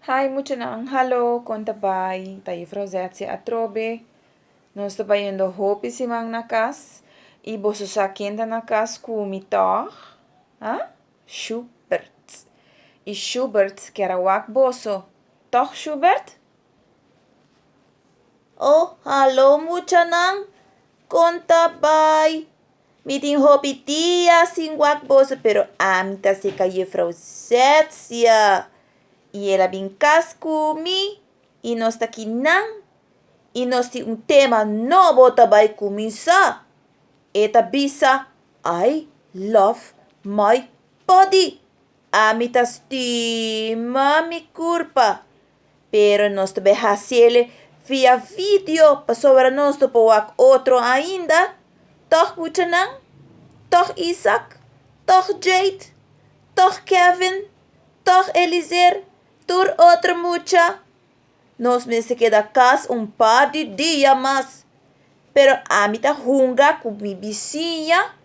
Hi muchanan, hallo kon ta bai? Ta Juffrouw Zetsie atrobe. Nos ta bayendo hopi siman na kas y boso sa ken ta na kas ku mi tòg? Ha? Shubert. Y Shubert kier a wak boso, tòg Shubert? Oh, hallo muchanan, kon ta bai? Mi tin hopi dia sin wak boso, pero ami ta seka Juffrouw Zetzia. I el a bin kas ku mi i nos ta ki nan. I nos tin un tema nobo ta bai kuminsá. E ta bisa, I love my body. Ami ta stima mi kurpa. Pero nos ta bay haciele via video pasobra nos ta por wak otro ainda, toch buchanan, toch Isaac, toch Jade, toch Kevin, toch Elizer, tur otro mucha. Nos mester keda cas un par di dia mas. Pero ami ta hunga ku mi bisiña,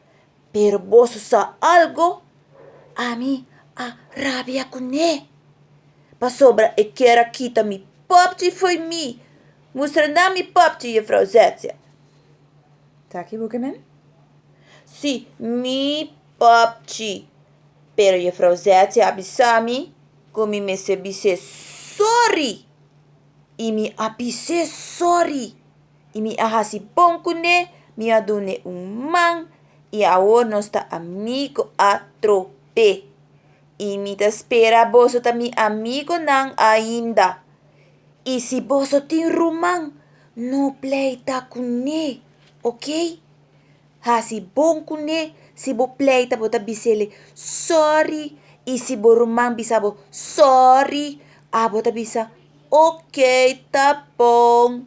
pero boso sa algu? Ami a rabia kuné, pasobra e kier a kita mi papchi fo'i mi. Mustra nan mi papchi, yefrou Zetsia. Ta kibuka nan? Sí, mi papchi. Pero yefrou Zetsia a bisa mi ku mi mester bis'é sòri, i mi a bis'é sòri. I mi a hasi pon ku ne, mi a dun ne un man, i awor nos ta amigo atrope. I mi ta spera boso ta mi amigonan ainda. I si boso tin ruman, no pleita ku ne, ok? Hasi bon ku ne, si bo pleita bo ta bis'e sòri, i si bo ruman bisa bo sòri, abo ta bisa, ok, ta bon.